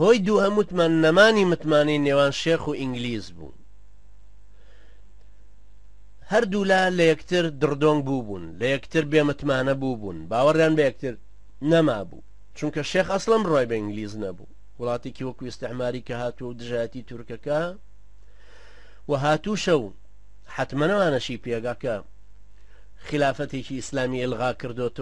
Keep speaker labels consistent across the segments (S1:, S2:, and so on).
S1: هۆی دووهەم وتمان نەمانی متمانەی نێوان شێخ و ئینگلیز بوو هەردوولا لە یەکتر دڕدۆنگ بوو بوون لە یەکتر بێمتمانە بوو بوون باوەڕیان بە یەکتر نەما بوو چونکە شێخ ئەسڵم ڕۆی بە ئینگلیز نەبوو وڵاتێکی وەکو ئستعماری کە هاتووە و دژایەتی تورکەکە و هاتووشە و حتممەەوانەشی پێگاکە خلافەتێکی ئیسلامی ئلغا کردوەوە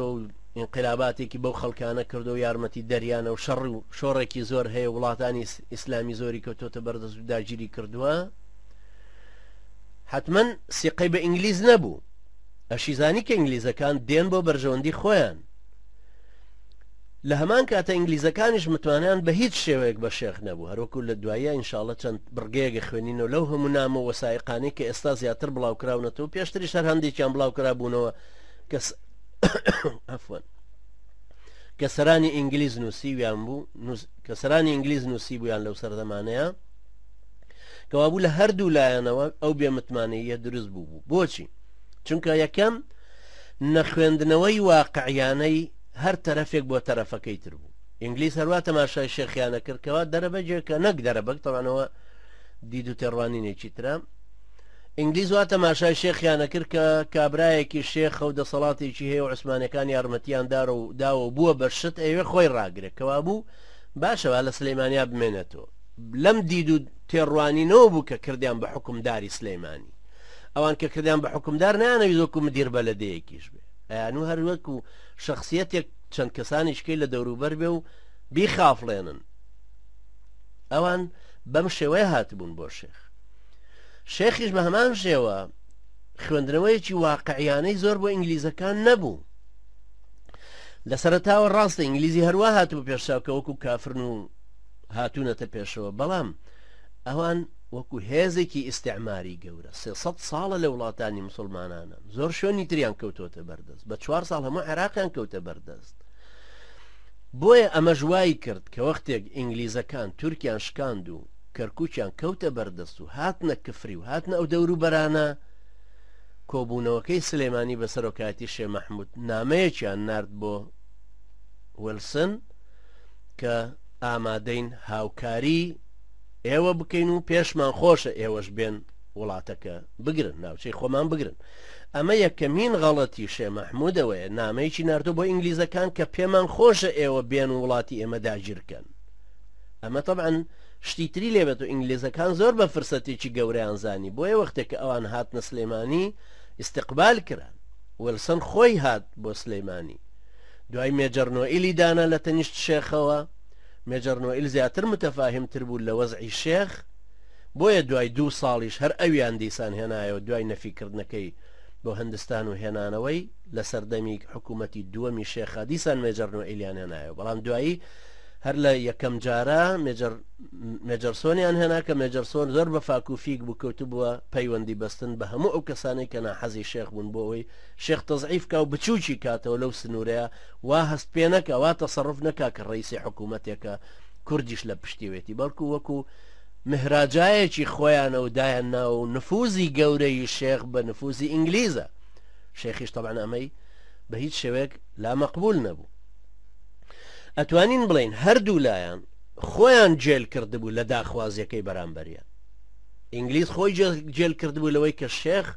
S1: ئینقلاباتێکی بەو خەڵکانە کردوەو یارمەتی دەریانە و شەڕ و شۆڕێکی زۆر هەیە وڵاتانی ئیسلامی زۆری کەوتۆتە بەردەست و داگیری کردوە حتمەن سیقەی بە ئینگلیز نەبوو ئەشیزانی کە ئینگلیزەکان دێن بۆ بەرژەوەندی خۆیان لە هەمان کاتە ئینگلیزەکانیش متمانیان بە هیچ شێوەیەک بە شێخ نەبوو هەروەکو لە دوایە ئینشاالله چەند بڕگەیەگە خوێنینەوە لەو هەموو نامە وەسایقانەی کە ئێستا زیاتر بڵاوکراونەتەوە پێشتری شەر هەندێکیان بڵاوکرا بوونەوە کەس ئەفوەن کە سەرانی ئینگلیز نووسیویان بوو کە سەرانی ئینگلیز نووسی بوویان لەو سەردەمانەیە کەوابوو لە هەردوو لایەنەوە ئەو بێمتمانەیە دروست بوو بوو بۆچی چونکە یەکەم نەخوێندنەوەی واقعیانەی هەر تەرەفێک بۆ تەرەفەکەی تر بوو ئینگلیس هەروە تەماشای شێخیانە کردکەوە دەرەبەجێکە نەک دەرەبەک تەوانەوە دیدو تێڕوانینێکی ترە ئینگلیز وا تەماشای شێخیان ئەکرد کە کابرایەکی شێخە و دەسەڵاتێکی هەیە و عوسمانەکان یارمەتیان دارە و داوە و بووە بە شت ئەیەوێ خۆی ڕاگرێ کەوابوو باشە با لە سلیمانیا بمێنێتەوە لەم دید و تێڕوانینەوە بوو کە کردیان بە حکومداری سلیمانی ئەوان کە کردیان بە حکومدار نیانەوی زۆک و مدیر بە لە دەیەکیش بێ ئەیان و هەروەک و شخصیەتێک چەند کەسانیشکەی لە دەوروبەر بێ و بیخافڵێنن ئەوان بەم شێوەیە هاتبوون بۆ شێخ شێخیش بە هەمان شێوە خوێندنەوەیەکی واقعیانەی زۆر بۆ ئینگلیزەکان نەبوو لە سەرتاوە ڕاستە ئینگلیزی هەروە هاتبوو پێشساکە وەکو کافرن و هاتوونەتە پێشەوە بەڵام ئەوان وەکو هێزێکی ئیسعماری گەورە سێ ساڵە لە وڵاتانی مسلمانانە زۆر شوێنی تریان کەوتۆتە بەردەست بە چوار ساڵ هەموو عراقیان کەوتە بەردەست بۆیە ئەمە ژوایی کرد کە وەختێک ئینگلیزەکان تورکیان شکاند و کەرکوکیان کەوتە بەردەست و هاتنە کفری و هاتنە ئەو دەورو بەرانە، کۆبونەوەکەی سلێمانی بە سەرۆکایەتی شێ مەحمود نامەیەکیان نارد بۆ ویلسن کە ئامادەین هاوکاری ئێوە بکەین و پێشمان خۆشە ئێوەش بێن وڵاتەکە بگرن ناوچەی خۆمان بگرن ئەمە یەکەمین غەڵەتی شێ مەحمودەوەیە نامەیەکی نردۆ بۆ ئینگلیزەکان کە پێمان خۆشە ئێوە بێن وڵاتی ئێمە داگیرکەن ئەمە تەبعەن شتی تری لێ بێت و ئینگلیزەکان زۆر بە فرسەتێکی گەورەیان زانی بۆیە وەختێک کە ئەوان هاتنە سلێمانی ئیستقبال کران ویلسن خۆی هات بۆ سلێمانی دوای مێجەر نۆئیلی دانا لە تەنیشت شێخەوە مێجەر نۆئیل زیاتر متەفاهمتر بوو لە وەزعی شێخ بۆیە دوای دوو ساڵیش هەر ئەویان دیسان هێنایەوە دوای نەفیکردنەکەی بۆ هەندستان و هێنانەوەی لە سەردەمی حکوومەتی دووەمی شێخا دیسان مێجەر نۆئیلیان هێنایەوە بەڵام دوایی هەر لە یەکەم جارە مێجەر مێجەرسۆنیان هێنا کە مێجەرسۆن زۆر بە فاکوفیک بوو کەوت بووە پەیوەندی بەستن بە هەموو ئەو کەسانەی کە ناحەزی شێخ بوون بۆ ئەوی شێخ تەزعیفکە و بچووکی کاتەوە لەو سنوورەیە وا هەست پێ نەکە وا تەسەڕف نەکا کە ڕیسی حکوومەتێکە کوردیش لە پشتیوێتی بەڵکو وەکو مهراجایەکی خۆیانە و دایان ناوە و نفوزی گەورەی شێخ بە نفوزی ئینگلیزە شێخیش تەبان ئەمەی بە هیچ شێوەیەک لا مەقبول نەبوو ئەتوانین بڵێین هەردوو لایان خۆیان جێل کردبوو لە داخوازیەکەی بەرامبەریان ئینگلیز خۆی جێل کردبوو لەوەی کە شێخ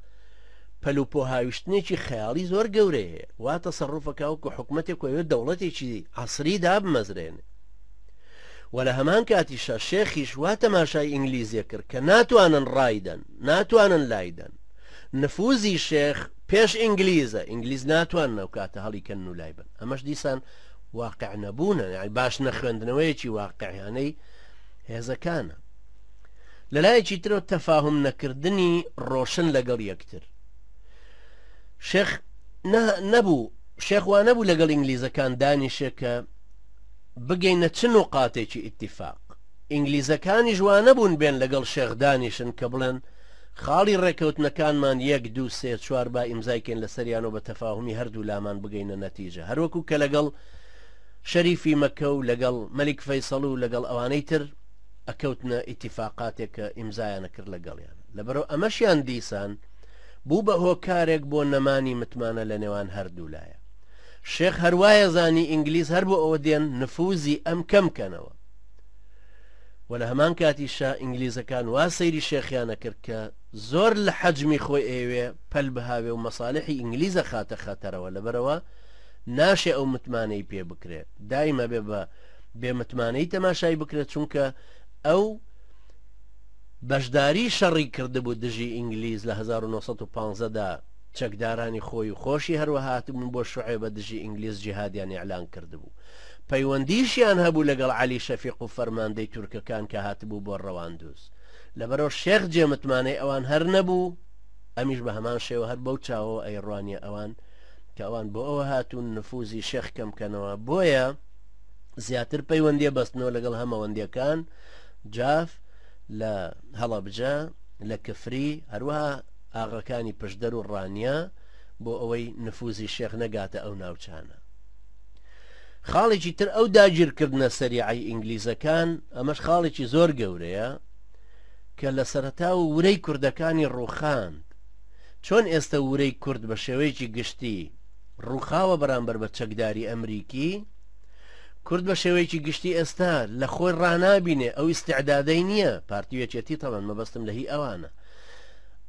S1: پەلوپۆ هاویشتنێکی خەیاڵی زۆر گەورەیە وا تەسەڕوفەکەوەکو حکوومەتێک وەوێ دەوڵەتێکی عسری دابمەزرێن و لە هەمان کاتیشە شێخیش وا تەماشای ئینگلیزیە کرد کە ناتوانن ڕایدەن ناتوانن لایدەن نفوزی شێخ پێش ئینگلیزە ئینگلیز ناتوان ناو کاتە هەڵی کەن و لای بن ئەمەش دیسان واقع نەبوونە یعنی باش نەخوێندنەوەیەکی واقعیانەی هێزەکانە لەلایەکی ترۆ تەفاهم نەکردنی ڕۆشن لەگەڵ یەکتر شێخ نەبوو شێخوان نەبوو لەگەڵ ئینگلیزەکان دانیشێکە بگەینە چ و قاتێکی ئیتیفاق ئینگلیزەکانی ژوانە بوون بێن لەگەڵ شێخدانیشن کە بڵێن خاڵی ڕێکەوتنەکانمان یەک دوو سێ چوار با ئیمزای کەین لەسەریان و بە تەفاهومی هەردوو لامان بگەینە نەتیجە هەروەکو کە لەگەڵ شەریفی مەکە و لەگەڵ مەلیک فەیسەڵ و لەگەڵ ئەوانەی تر ئەکەوتنە ئیتیفاقاتێک کە ئیمزایانە کرد لەگەڵیان لەبەرەو ئەمەشیان دیسان بوو بە هۆکارێک بۆ نەمانی متمانە لە نێوان هەردوو لایە شێخ هەروایە زانی ئینگلیز هەر بۆ ئەوە دێن نفوزی ئەم کەم کەنەوە وە لە هەمان کاتیشا ئینگلیزەکان وا سەیری شێخیان ئەکرد کە زۆر لە حەجمی خۆی ئەیەوێ پەل بهاوێ و مەسالحی ئینگلیز ئەخاتە خەتەرەوە لەبەرئەوە ناشێ ئەو متمانەی پێ بکرێ دایم ئەبێ بە بێ متمانەی تەماشای بکرێت چونکە ئەو بەشداری شەڕی کردبوو دژی ئینگلیز لە 1950 دا چەکدارانی خۆی و خۆشی هەروەهاتبوون بۆ شعێبە دژی ئینگلیز جیهادیان ئیعلان کردبوو پەیوەندیشیان هەبوو لەگەڵ عەلی شەفیق و فەرماندەی تورکەکان کە هاتبوو بۆ رەواندوز. لەبەرئەو شێخ جێ متمانەی ئەوان هەر نەبوو، ئەمیش بە هەمان شێوە هەر بەو چاوەوە ئەیڕوانیە ئەوان کە ئەوان بۆ ئەوە هاتوون نفوزی شێخ کەم کەنەوە بۆیە زیاتر پەیوەندیە بەستنەوە لەگەڵ هەمەوەندیەکان جاف لە هەڵەبجە لە کفری هەروەها ئاغەکانی پشدەر و ڕانیە بۆ ئەوەی نفوزی شێخ نەگاتە ئەو ناوچانە. خاڵێکی تر ئەو داگیرکردنە سەریعی ئینگلیزەکان ئەمەش خاڵێکی زۆر گەورەیە کە لە سەرەتا و ورەی کوردەکانی ڕوخاند چۆن ئێستا ورەی کورد بە شێوەیەکی گشتی ڕوخاوە بەرامبەر بە چەکداری ئەمریکی کورد بە شێوەیەکی گشتی ئێستا لە خۆی ڕنابینێ ئەو استعدادەی نییە پارتیوێکێتی تەوان مەبەستم لە هی ئەوانە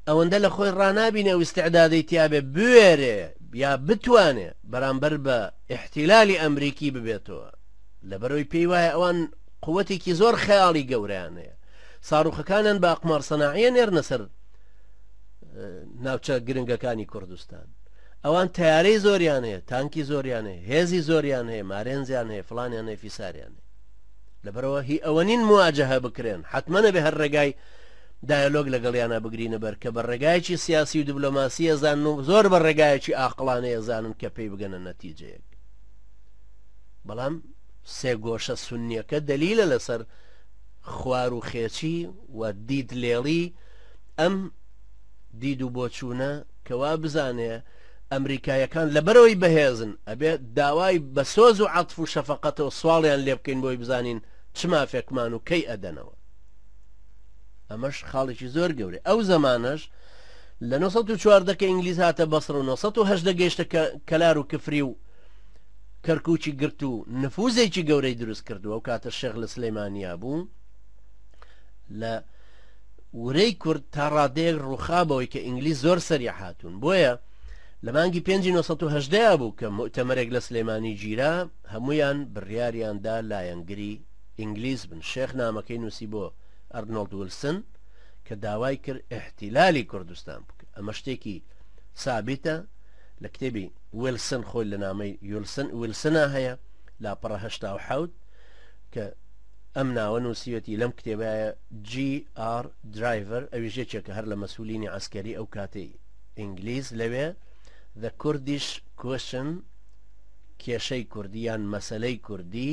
S1: ئەوەندە لە خۆی ڕنابینێ ئەو استعدادەی تیاابێ بوێرێ یا بتوانێ بەرامبەر بە ئیحتیلالی ئەمریکی ببێتەوە لەبەرەوەی پێی وایە ئەوان قوتێکی زۆر خەیاڵی گەورەیان هەیە ساڕوخەکانیان بە ئەقمار سەناعیە نێرنە سەر ناوچە گرنگەکانی کوردستان ئەوان تارەی زۆریان هەیە تانکی زۆریان هەیە هێزی زۆریان هەیە مارێنزیان هەیە فلانیان هەیە فیساریان هەیە لەبەرەوە هی ئەوە نین مواجهە بکرێن حتممەە بێ هەر ڕێگای دایەلۆگ لەگەڵیانا بگرینە بەر کە بە ڕێگایەکی سیاسی و دبلۆماسی ئەزانن و زۆر بە ڕێگایەکی ئاقڵانەی ئەزانن کە پێی بگەنە نەتیجەیەک بەڵام سێگۆشە سنیەکە دەلیلە لەسەر خوار و خێچی و دید لێڵی ئەم دید و بۆچوونە کەوا بزانێ ئەمریکایەکان لەبەرەوەی بەهێزن ئەبێ داوای بە سۆز و عاتف و شەفقەتەوە سواڵیان لێ بکەین بۆی بزانین چ مافێکمان و کەی ئەدەنەوە ئەمەش خاڵێکی زۆر گەورە ئەو زمانەش لە 1940 کە ئینگلیز هاتە بەسڕ و 1970 گەیشتە کەلار و کفری و کەرکوچی گرت و نفوزێکی گەورەی دروست کردووە و کاتە شێغ لە سلەیمانیا بوو لە ورەی کورد تا ڕادەیەک ڕووخابەوەی کە ئینگلیز زۆر سەری هاتوون بۆیە لە مانگی 1970 بوو کە مؤتەمەرێک لە سلێمانی گیرا هەمویان بڕیاریاندا لایەنگری ئینگلیز بن شێخ نامەکەی نوسی بۆ ئەرنۆڵد ولسن کە داوای کرد ئیحتیلالی کوردستان بکە ئەمە شتێکی سابیتە لە کتێبی ویلسن خۆی لە نامەی یولسن ویلسنا هەیە لاپەڕە هەشتا و حەوت کە ئەم ناوە نووسیوەتی لەم کتێبایە GR درایڤەر ئەوی ژێکێکە هەر لە مەسولینی ئەسکەری ئەو کاتەی ئینگلیز لەوێ The Kurdish Question کێشەی کوردی یان مەسلەی کوردی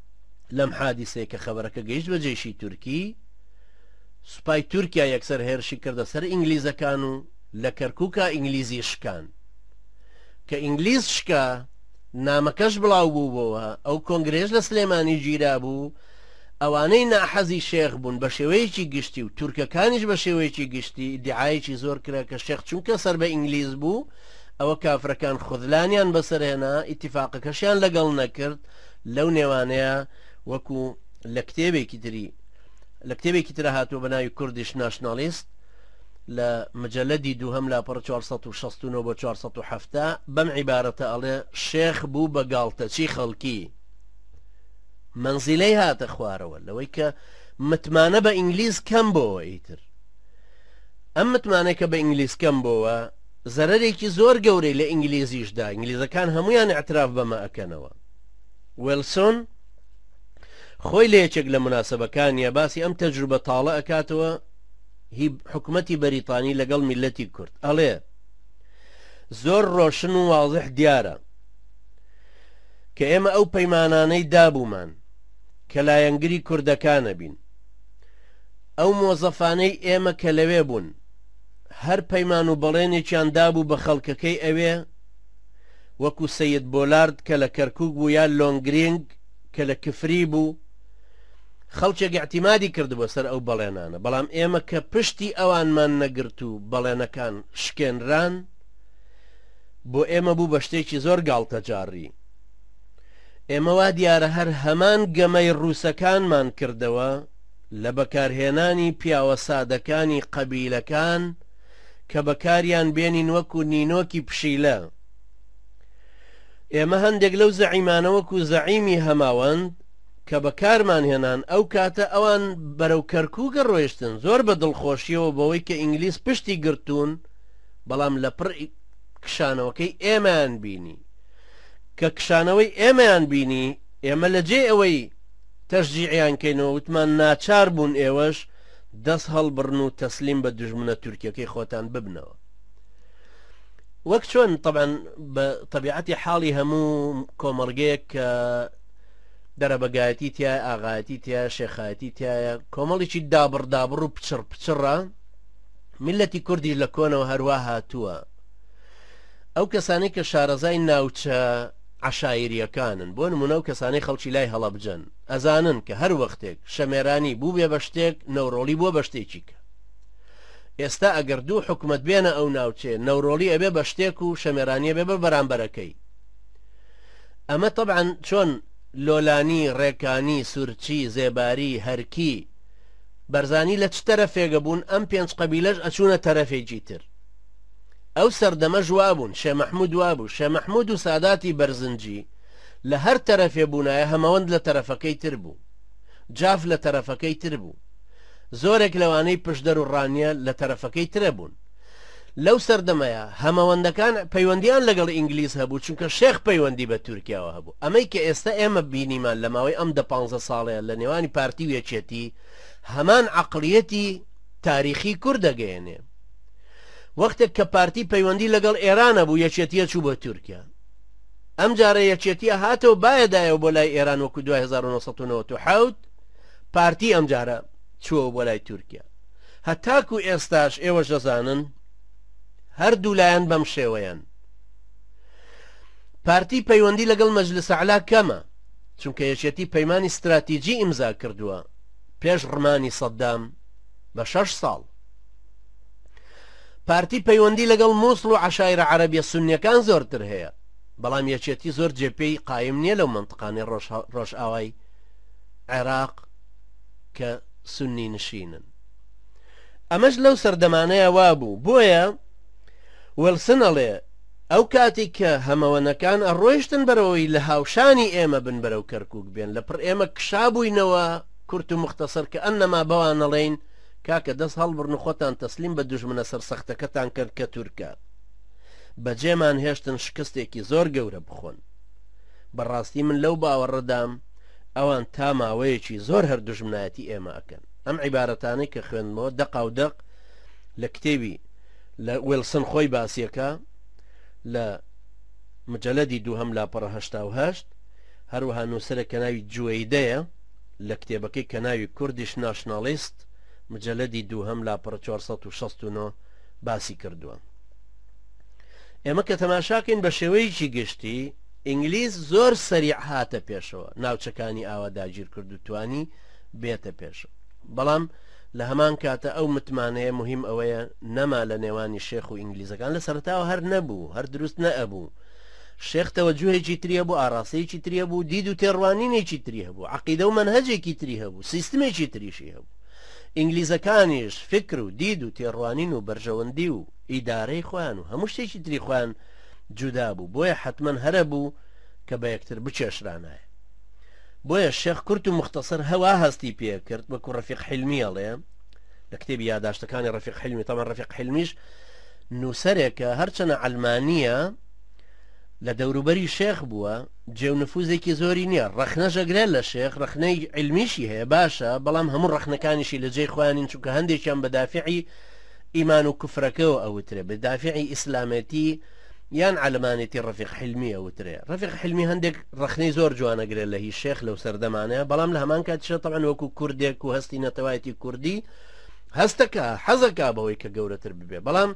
S1: لەم حادیسەیە کە خەبەرەکە گەیشت بە جێشی تورکی سوپای تورکیا یەکسەر هێرشی کردە سەر ئینگلیزەکان و لە کەرکووکە ئینگلیزی شکان کە ئینگلیز شکا نامەکەش بڵاو بوو بۆەوە ئەو کۆنگرێش لە سلێمانی گیرا بوو ئەوانەی ناحەزی شێخ بوون بە شێوەیەکی گشتی و تورکەکانیش بە شێوەیەکی گشتی دیعاەکی زۆر کرا کە شێخ چونکە سەر بە ئینگلیز بوو ئەوە کافرەکان خودلانیان بەسەرهێنا ئیتیفاقەکەشیان لەگەڵ نەکرد لەو نێوانەیا وەکو لە کتێبێکی تری لە کتێبێکی ترا هاتووە بە ناوی کوردیش ناشناڵیست لە مجلدی دووهەم لاپەڕ 469 بۆ 470 بەم عیبارەتە ئەڵێ شێخ بوو بە گاڵتەچی خەڵکی منزیلەی هاتە خوارەوە لەوەی کە متمانە بە ئینگلیز کەم بۆەوە ئیتر ئەم متمانەکە بە ئینگلیز کەم بۆەوە زەرێکی زۆر گەورەی لە ئینگلیزیشدا ئینگلیزەکان هەمویان اعتراف بەمە ئەەکەنەوە ویلسۆن خۆی لە یەکێک لە مناسبەکانیا باسی ئەم تەجروبە تاڵە ئەکاتەوە هی حکومەتی بەریتانی لەگەڵ میلەتی کورد ئەڵێ زۆر ڕۆشن و واضح دیارە کە ئێمە ئەو پەیمانانەی دابوومان کە لایەنگری کوردەکانە بین ئەو مۆزەفانەی ئێمە کە لەوێ بوون هەر پەیمان و بەڵێنێکیان دابوو بە خەڵکەکەی ئەوێ وەکو سەید بۆلارد کە لە کەرکوک بوو یان لۆنگرینگ کە لە کفری بوو خەڵکێک اعتیمادی کردبوە سەر ئەو بەڵێنانە بەڵام ئێمە کە پشتی ئەوانمان نەگرت و بەڵێنەکان شکێنران بۆ ئێمە بوو بە شتێکی زۆر گاڵتەجاڕی ئێمە وا دیارە هەر هەمان گەمەی ڕووسەکانمان کردەوە لە بەکارهێنانی پیاوە سادەکانی قەبیلەکان کە بەکاریان بێنین وەکو نینۆکی پشیلە ئێمە هەندێک لەو زەعیمانە وەکو زەعیمی هەماوەند کە بەکارمان هێنان ئەو کاتە ئەوان بەرەو کەرکووکە ڕۆیشتن زۆر بە دڵخۆشیەوە بەوەی کە ئینگلیس پشتی گرتوون بەڵام لە پڕ کشانەوەکەی ئێمەیان بینی کە کشانەوەی ئێمەیان بینی ئێمە لە جێ ئەوەی تەشجیعیان کەینەوە وتمان ناچار بوون ئێوەش دەست هەڵبڕن و تەسلیم بە دژمنە تورکیەکەی خۆتان ببنەوە وەک چۆن طبعاً بە طبیعەتی حاڵی هەموو کۆمەڵگەیەک کە دەرەبەگایەتی تای ئاغایەتی تیا شێخایەتی تایە کۆمەڵێکی دابڕدابڕ و پچڕ پچڕە میلەتی کوردیش لە کۆنەوە هەروە هاتووە ئەو کەسانی کە شارەزای ناوچە عشاعریەکانن بۆ نمونە و کەسانی خەڵکی لای هەڵەبجەن ئەزانن کە هەر وەختێک شەمێرانی بووبێ بە شتێک نەورۆڵی بووە بە شتێکی کە ئێستا ئەگەر دوو حکومەت بێنە ئەو ناوچێ نەورۆڵی ئەبێ بە شتێک و شەمێرانیە بێ بە بەرامبەرەکەی ئەمە طبعاً چۆن لۆلانی ڕێکانی سورچی زێباری هەرکی بەرزانی لە چ تەرەفێگە بوون ئەم پێنج قەبیلەش ئەچوونە تەرەفێکی تر ئەو سەردەمە ژوابوون شێ مەحمود وابوو شێ مەحمود و ساداتی بەرزنجی لە هەر تەرەفێ بوونایە هەمەوەند لە تەرەفەکەی تر بوو جاف لە تەرەفەکەی تر بوو زۆرێک لەوانەی پشدەر و ڕانیە لە تەرەفەکەی ترە بوون لەو سەردەمەیە هەمەوەندەکان پەیوەندیان لەگەڵ ئینگلیز هەبوو چونکە شێخ پەیوەندی بە تورکیاوە هەبوو ئەمەی کە ئێستا ئێمە بینیمان لە ماوەی ئەم دە پانزە ساڵەیە لە نێوانی پارتی و یەکێتی هەمان عقلیەتی تاریخی کورد دەگەیەنێ وەختێک کە پارتی پەیوەندی لەگەڵ ئێرانە بوو یەکێتیە چوو بۆ تورکیا ئەم جارە یەکێتیە هاتەوە بایە دایەوە بۆ لای ئێران وەکو دوای 1997 پارتی ئەم جارە چووەوە بۆ لای تورکیا هەتاکو ئێستاش ئێوەش دەزانن هەردوو لایەن بەم شێوەیەن پارتی پەیوەندی لەگەڵ مەجلس علا کەمە چونکە یەکێتی پەیمانی استراتیجی ئیمزا کردووە پێش ڕمانی سەددام بە شەش ساڵ پارتی پەیوەندی لەگەڵ مووسڵ و عشایرە عەرەبیە سنیەکان زۆرتر هەیە بەڵام یەکێتی زۆر جێپێی قایم نییە لەو منطقانەی ڕۆژئاوای عێراق کە سنی نشینن ئەمەش لەو سەردەمانەیە وابوو بۆیە وەلسن ئەڵێ ئەو کاتی کە هەمەوەنەکان ئەڕۆیشتن بەرەوەی لە هاوشانی ئێمە بن بەرەو کەرکک بێن لە پڕ ئێمە کشابووینەوە کورت و مختصر کە ئەنەما بەوانەڵین کاکە دەست هەڵبڕن و خۆتان تەسلیم بە دوژمنە سەرسەختەکەتان کەن کە تورکە بەجێمان هێشتن شکستێکی زۆر گەورە بخۆن بەڕاستی من لەو باوەڕەدام ئەوان تا ماوەیەکی زۆر هەر دوژمنایەتی ئێمە ئەکەن ئەم عیبارەتانەی کە خوێندمەوە دەقا و دەق لە کتێبی لە وێلسن خۆی باسیەکە لە مجلدی دووهم لاپەڕە هەشتا و هەشت هەروەها نووسەرە کە ناوی جوێیدەیە لە کتێبەکەی کە ناوی کوردیش ناشناڵیست، مجەلەدی دووهەم لاپەڕە چوار سەد و شەست و نۆ باسی کردووە. ئێمە کە تەماشاکەین بە شێوەیەکی گشتی ئینگلیز زۆر سەریع هاتە پێشەوە ناوچەکانی ئاوا داگیر کرد و توانی بێتە پێشەوە بەڵام لە هەمان کاتە ئەو متمانەیە مهم ئەوەیە نەما لە نێوانی شێخ و ئینگلیزەکان لە سەرتاوە هەر نەبوو هەر دروست نەئەبوو شێخ تەوەجوهێکی تری هەبوو، ئاراستەیەکی تری هەبوو، دید و تێڕوانینێکی تری هەبوو، عەقیدە و مەنهەجێکی تری هەبوو، سیستمێکی تریشی هەبوو. ئینگلیزەکانیش فیکر و دید و تێڕوانین و بەرژەوەندی و ئیدارەی خۆیان و هەموو شتێکی تری خۆیان جودا بوو، بۆیە حەتمەن هەر ئەبوو کە بە یەکتر بکێشرانایە. بۆیە شێخ کورت و موختەسەر هە وا هەستی پێ کرد، وەکوو ڕەفیق حیلمی ئەڵێ لە کتێبی یاداشتەکانی ڕەفیق حیلمی، تەبعەن ڕەفیق حیلمیش، نووسەرێکە هەرچەنە عەلمانییە لە دەوروبەری شێخ بووە جێ و نفوزێکی زۆری نییە ڕەخنەش ئەگرێت لە شێخ ڕەخنەی علمیشی هەیە باشە بەڵام هەموو ڕەخنەکانیشی لە جێی خۆیانین چونکە هەندێکیان بە دافعی ئیمان و کوفرەکەەوە ئەوترێ بە دافعی ئیسلامەتی یان علمانێتی ڕفیق حلمی ئەوترێ ڕفیق حلمی هەندێک ڕخنەی زۆر جوانەگرێت لە هی شێخ لەو سەردەمانەیە بەڵام لە هەمان کاتیشە تەعەن وەکو کوردێک و هەستی نەتەوایەتی کوردی هەستەکا حەزەکا بەوەی کە گەورەتر ببێ بەڵام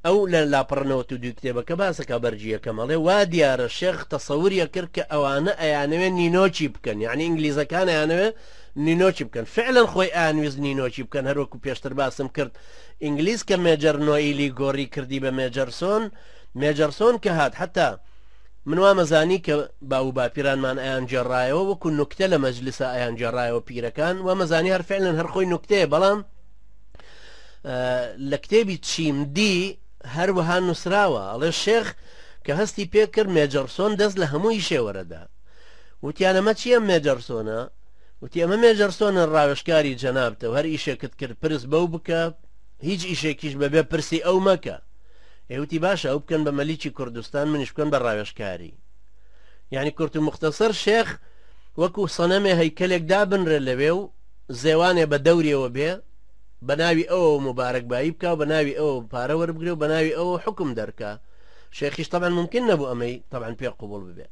S1: ئەو لە لاپەڕ نەوەت و دوی کتێبەکە باسەکە بەرجی یەکەمەڵێ وا دیارە شێخ تەسەوریە کرد کە ئەوانە ئەیانەوێ نینۆچی بکەن یعنی ئینگلیزەکان ئەیانەوێ نینۆچی بکەن فعلەن خۆی ئانویست نینۆچی بکەن هەروەکو پێشتر باسم کرد ئینگلیز کە مێجەر نۆئیلی گۆڕی کردی بە مێجەرسۆن مێجەرسۆن کە هات حتا من وام زانی کە باوو باپیرانمان ئەیان گێڕایەوە وەکو نوکتە لە مەجلسا ئەیان گێڕایەوە پیرەکان وامە زانی هەر فعلەن هەر خۆی نوکتەیە بەڵام لە کتێبی چیم دی هەروەها نووسراوە ئەڵێ شێخ کە هەستی پێکرد مێجەڕسۆن دەست لە هەمووی شێوەرەدا وتیانەمە چییە مێجەرسۆنە وتی ئەمە مێجەرسۆنە ڕاوێشکاری جەنابتە هەر ئیشێکت کرد پرس بەو بکە هیچ ئیشێکیش بەبێ پرسی ئەو مەکە ئێ وتی باشە ئەو بکەن بە مەلیکی کوردستان منیش بکەن بە ڕاوێژکاری یعنی کورت و مختەسەر شێخ وەکو سەنەمێ هەیکەلێک دابنرێ لەوێ و زێوانێ بە دەوریەوە بێ بە ناوی ئەوە مبارەک بایی بکە و بە ناوی ئەوە پارە وەربگرێ و بە ناوی ئەوە حکم دەرکە شێخیش تەبەن ممکن نەبوو ئەمەی تەبەن پێ قوبڵ ببێ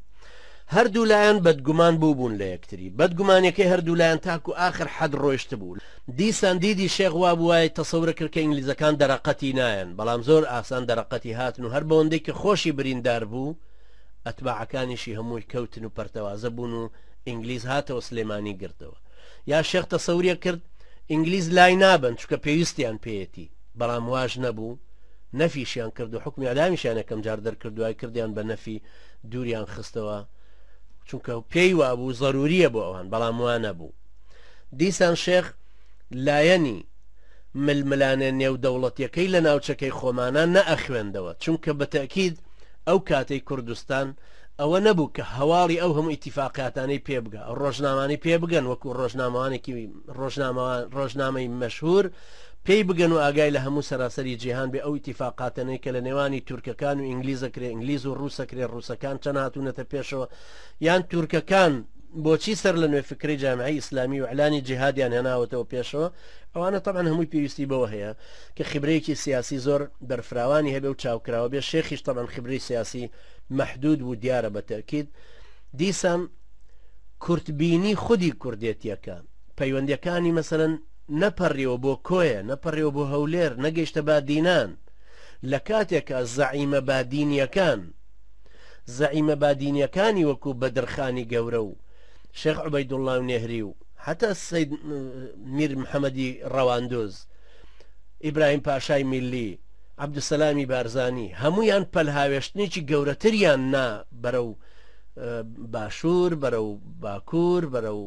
S1: هەردوو لایان بەدگومان بووبوون لە یەکتری، بەدگومانیەکەی هەردوو لایان تاکو ئاخر حەد ڕۆیشتبوو، دیسان دیدی شێخ وابووایە تەسەورەکرد کە ئینگلیزەکان دەرەقەتی نایەن، بەڵام زۆر ئاسان دەرەقەتی هاتن و هەر بەوەندەی کە خۆشی بریندار بوو ئەتباعەکانیشی هەمووی کەوتن و پەرتەوازە بوون و ئینگلیز هاتەوە سلێمانی گرتەوە یا شێخ تەسەوریە کرد ئینگلیز لای نابەن چکە پێویستیان پێیەتی بەڵام واش نەبوو نەفیشیان کرد و حکمی ئەدامیشیان یەکەم جار دەرکردوای کردیان بە نەفی دووریان خستەوە چونکە پێی وابوو زەروریە بۆ ئەوان بەڵام وانە بوو دیسان شێخ لایەنی ململانێ نێودەوڵەتیەکەی لە ناوچەکەی خۆمانە نەئەخوێندەوە چونکە بەتەکید ئەو کاتەی کوردستان ئەوە نەبوو کە هەواڵی ئەو هەموو ئیتیفاقاتانەی پێبگە ڕۆژنامانی پێبگەن وەکو ڕۆژنامەوانێکی ڕۆژنامەوان ڕۆژنامەی مەشهور پێی بگەن و ئاگای لە هەموو سەراسەری جیهان بێ ئەو ئیتیفاقاتەنەی کە لە نێوانی تورکەکان و ئینگلیز ئەکرێ ئینگلیز و ڕووس ئەکرێ ڕووسەکان چەند هاتوونەتە پێشەوە یان تورکەکان بۆچی سەر لە نوێ فکری جامعی ئیسلامی و ئەلانی جیهادیان هێناوەتەوە پێشەوە ئەوانە تەبەن هەمووی پێویستی بەوە هەیە کە خبرەیەکی سیاسی زۆر بەرفراوانی هەبێ و چاوکراوە بێ شێخیش تەبەن خبری سیاسی محدود و دیارە بە تەکید دیسان کورتبینی خودی کوردێتیەکە پەیوەندەکانی مەسەن نەپەریوە بۆ کۆیە، نەپەریوە بۆ هەولێر، نەگەیشتە بادینان، لە کاتێکا زەعیمە بادینیەکان، زەعیمە بادینیەکانی وەکو بەدرخانی گەورە و شێخ عوبەیدوڵڵا و نێهری و هەتا سەید میر محەمەدی ڕەواندوز، ئیبراهیم پاشای میللی، عەبدولسەلامی بارزانی، هەموویان پەلهاوێشتنێکی گەورەتریان نا بەرەو باشور، بەرەو باکور، بەرەو.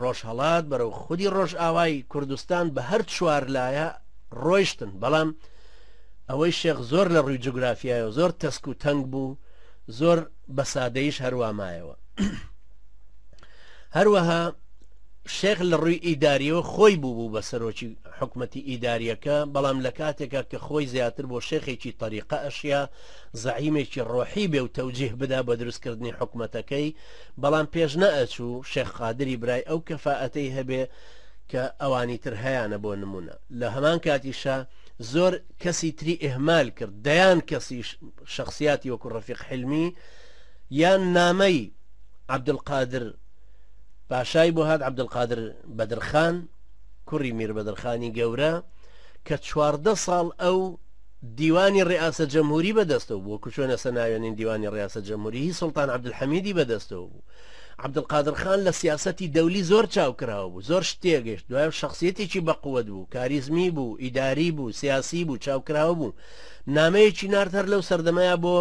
S1: ڕۆژهەڵات بەرەو خودی ڕۆژئاوای کوردستان بە هەر چوار لایە ڕۆیشتن بەڵام ئەوەی شێخ زۆر لە ڕووی جوگرافیایەوە زۆر تەسک و تەنگ بوو زۆر بە سادەیش هەروامایەوە هەروەها شێخ لە ڕووی ئیداریەوە خۆی بوو بوو بە سەرۆکی حکومەتی ئیداریەکە بەڵام لە کاتێکە کە خۆی زیاتر بۆ شێخێکی تەریقە ئەشیا زعیمێکی ڕۆحی بێ و تەوجیه بدا بە دروستکردنی حکومەتەکەی بەڵام پێش نەئەچوو شێخ قادری برای ئەو کەفائەتەی هەبێ کە ئەوانی تر هەیانە بۆ نموونە لە هەمان کاتیشا زۆر کەسی تری ئیهمال کرد دەیان کەسی شەخسیاتی وەکو ڕەفیق حلمی یان نامەی عەبدولقادر پاشای بۆ هات عەبدولقادر بەدرخان کوڕی میر بەدرخانی گەورە کە چواردە ساڵ ئەو دیوانی ڕیاسە جەمهوری بە دەستەوە بوو وەکو چۆن ئێستا ناوێنین دیوانی ڕیاسە جەمهوری هی سوڵتان عەبدولحەمیدی بە دەستەوە بوو عەبدولقادر خان لە سیاسەتی دەولی زۆر چاوکراوە بوو زۆر شت تێگەشت دوای شخصیەتێکی بەقوەت بوو کاریزمی بوو ئیداری بوو سیاسی بوو چاوکراوە بوو نامەیەکی نارد هەر لەو سەردەمەیە بۆ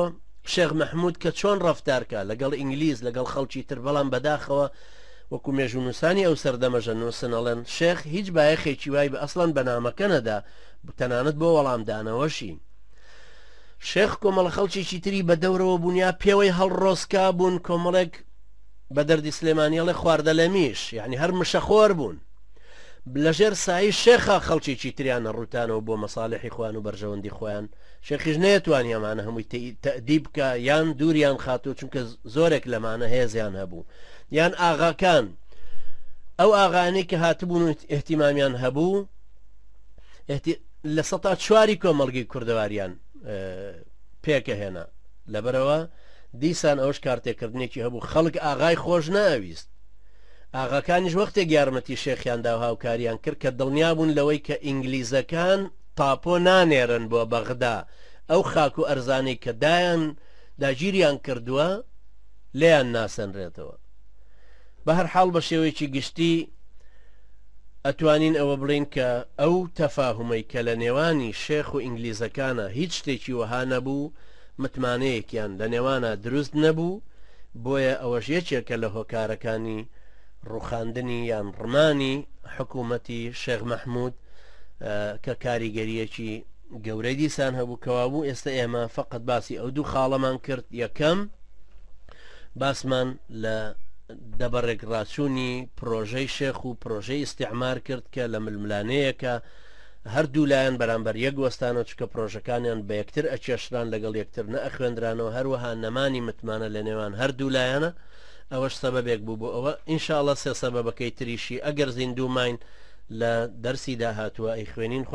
S1: شێخ محمود کە چۆن ڕفتارکە لەگەڵ ئینگلیز لەگەڵ خەڵکی تر بەڵام بەداخەوە وەکو مێژونوسانی ئەو سەردەمەژە نووسن ئەڵێن شێخ هیچ بایەخێکی وای بە ئەسڵان بەنامەکە نەدا تەنانەت بۆ وەڵامدانەوەشی. شێخ کۆمەڵە خەڵکیی تری بە دەورەوە بوونیا پێوەی هەڵڕۆسکا بوون کۆمەڵێک بە دەردی سلێمانیەڵێ خواردە لە میش یعنی هەر مشەخۆر بوون لەژێر سایی شێخا خەڵکیی تریانە ڕوتانەوە بۆ مەساالحی خوان و بەرژەوەندی خۆیان شێخیش نەیەتوانی ئەمانە هەمووی تەدی بکە یان دووریان خاتوو چونکە زۆرێک لەمانە هێزیان هەبوو یان ئاغاکان ئەو ئاغانەی کە هاتبوون و احتیمامیان هەبوو لە سەتا چواری کۆمەلگی کوردەواریان پێکە هێنا لەبەرەوە دیسان ئەوش کارتێکردنێکی هەبوو خەڵک ئاغای خۆش ناویست ئاغاکانیش وەختێک یارمەتی شێخیان دا هاوکاریان کرد کە دڵنیا بوون لەوەی کە ئینگلیزەکان تاپۆ نانێرن بۆ بەغدا ئەو خاک و ئەرزانەی کە دایان داگیریان کردووە لێیان ناسەنرێتەوە بە هەر حاڵ بە شێوەیەکی گشتی ئەتوانین ئەوە بڵێین کە ئەو تەفاهومەی کە لە نێوانی شێخ و ئینگلیزەکانا هیچ شتێکی وەها نەبوو، متمانەیەکیان لە نێوانا دروست نەبوو، بۆیە ئەوەش یەکێکە لە هۆکارەکانی ڕوخاندنی یان ڕمانی حکوومەتی شێخ مەحموود کە کاریگەریەکی گەورەی دیسان هەبوو کەوابوو ئێستا ئێمە فقط باسی ئەو دوو خاڵەمان کرد یەکەم باسمان لە دەبەڕێک ڕاچوونی پرۆژەی شێخ و پرۆژەی ئیسیعمار کرد کە لە ململانەیەکە هەردوو لایەن بەرامبەر یەک وەستانەوە چکە پرۆژەکانیان بە یەکتر ئەچێشران لەگەڵ یەکتر نە ئەخوێندرانەوە هەروەها نەمانی متمانە لە نێوان هەردوو لایەنە ئەوەش سەبەبێک بوو بۆ ئەوە ئینشاالله سێ سەبەبەکەی تریشی ئەگەر زیندوو ماین لە دەرسی داهاتووە ئەی خوێنین خی